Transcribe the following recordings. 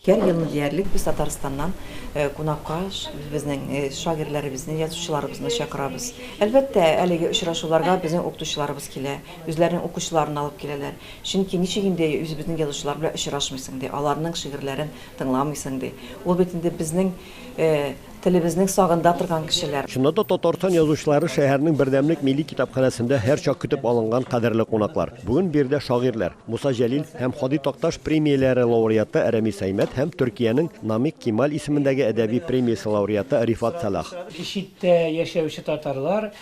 Һәр елны диярлек без Татарстаннан кунакка безнең шагыйрьләребезне, язучыларыбызны чакырабыз. Әлбәттә, әлеге очрашуларга безнең укытучыларыбыз килә, үзләренең укучыларын алып киләләр. Чөнки ничек инде үзебезнең язучылар белән очрашмыйсың ди, аларның шигырьләрен тыңламыйсың ди. Ул бит инде безнең Телебезнең сагында торган кешеләр. Чыннан да Татарстан язучылары шәһәрнең бердәмлек милли китапханәсендә һәрчак көтеп алынган кадерле кунаклар. Бүген биредә шагыйрьләр, Муса Җәлил һәм Һади Такташ премияләре лауреаты Рәмис Әймәт һәм Төркиянең Намик Кемаль исемендәге әдәби премиясе лауреаты Рифат Сәлах. Читтә яшәүче татарлар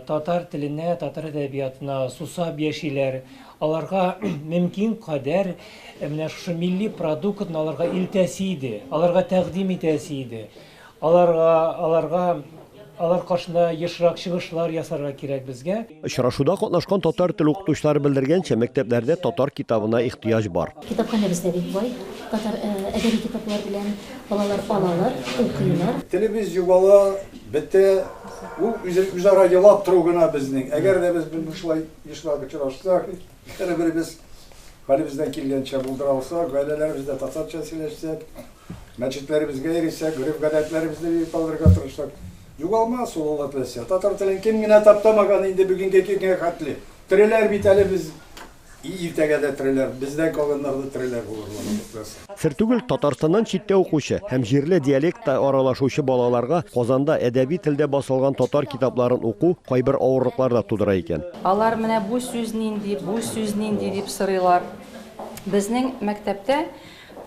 татар теленә, татар әдәбиятына сусап яшиләр. Аларга мөмкин кадәр менә шушы милли продуктны аларга илтәсе иде, аларга тәкъдим итәсе иде. Аларга, аларга, алар каршында ешрак чыгышлар ясарга кирәк безгә. Очрашуда катнашкан татар теле укытучылары белдергәнчә, мәктәпләрдә татар китабына ихтыяҗ бар. Китапханәбез дә бик бай, татар әдәби китаплар белән. Балалар алалар, укыйлар. Телебез югала, бетә, ул үзе, үзара елап тору гына безнең. Әгәр дә без бу, шулай. Ешлап очрашсак, бер-беребез хәлебездән килгәнчә булдыра алсак, гаиләләребездә татарча сөйләшсәк, мәчетләребезгә йөрисәк, гореф-гадәтләребезне бик калдырырга тырышсак, югалмас ул Алла теләсә. Татар телен кем генә таптамаган инде бүгенге көнгә хәтле. Тереләр бит әле без, иртәгә дә тереләр, бездән калганнар да тереләр булырлар. Сер түгел, Татарстаннан читтә укучы һәм җирле диалектта аралашучы балаларга Казанда әдәби телдә басылган татар китапларын уку кайбер авырлыклар да тудыра икән. Алар менә бу сүз нинди, бу сүз нинди дип сорыйлар. Безнең мәктәптә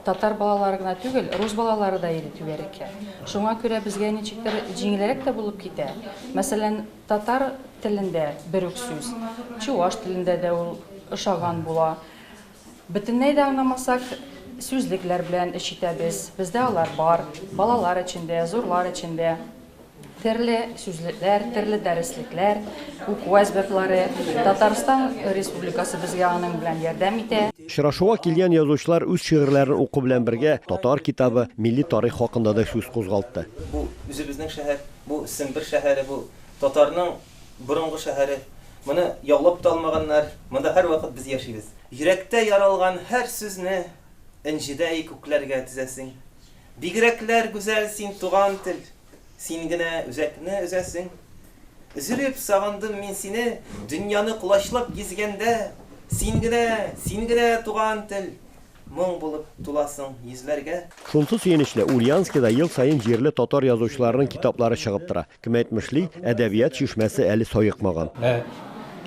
татар балалары гына түгел, рус балалары да иде түгәрәккә. Шуңа күрә безгә ничектер җиңелрәк тә булып китә. Мәсәлән, татар телендә бер үк сүз, чуваш телендә дә ул ошаган була. Бөтенләй дә аңламасак, сүзлекләр белән эш итәбез. Бездә алар бар. Балалар өчен дә, зурлар өчен дә. Терле сүзлекләр, терле дәреслекләр, уку әсбаплары. Татарстан Республикасы безгә аның белән ярдәм итә. Очрашуга килгән язучылар үз шигырьләрен уку белән бергә татар китабы, милли тарих хакында да сүз кузгалтты. Бу, үзебезнең шәһәр. Бу, Сембер шәһәре. Бу, татарның Борынгы шәһәре. Моны яулап та алмаганнар. Монда һәрвакыт без яшибез. Йөрәктә яралган һәр сүзне Энҗедәй күкләргә тезәсең. Бигрәкләр гүзәл син, туган тел! Син генә үзәкне өзәсең. Өзелеп сагындым мин сине, Дөньяны колачлап гизгәндә. Син генә, син генә, туган тел! Моң булып туласың йөзләргә. Шунсы сөенечле, Ульяновскида ел саен җирле татар язучыларының китаплары чыгып тора. Кем әйтмешли, әдәбият чишмәсе әле саекмаган. Ә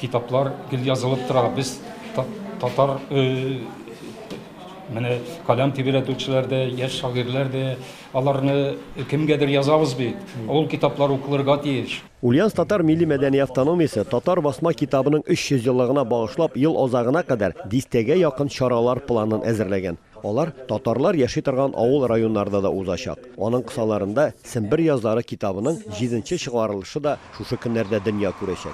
китаплар гел язылып тора. Без, татар, менә каләм тибрәтүчеләр дә, яшь шагыйрьләр дә, аларны кемгәдер язабыз бит. Ул китаплар укылырга тиеш. Ульяновск татар милли мәдәни автономиясе татар басма китабының 300 еллыгына багышлап ел азагына кадәр дистәгә якын чаралар планын әзерләгән. Алар татарлар яши торган авыл-районнарда да узачак. Аның кысаларында Сембер язлары китабының җиденче чыгарылышы да шушы көннәрдә дөнья күрәчәк.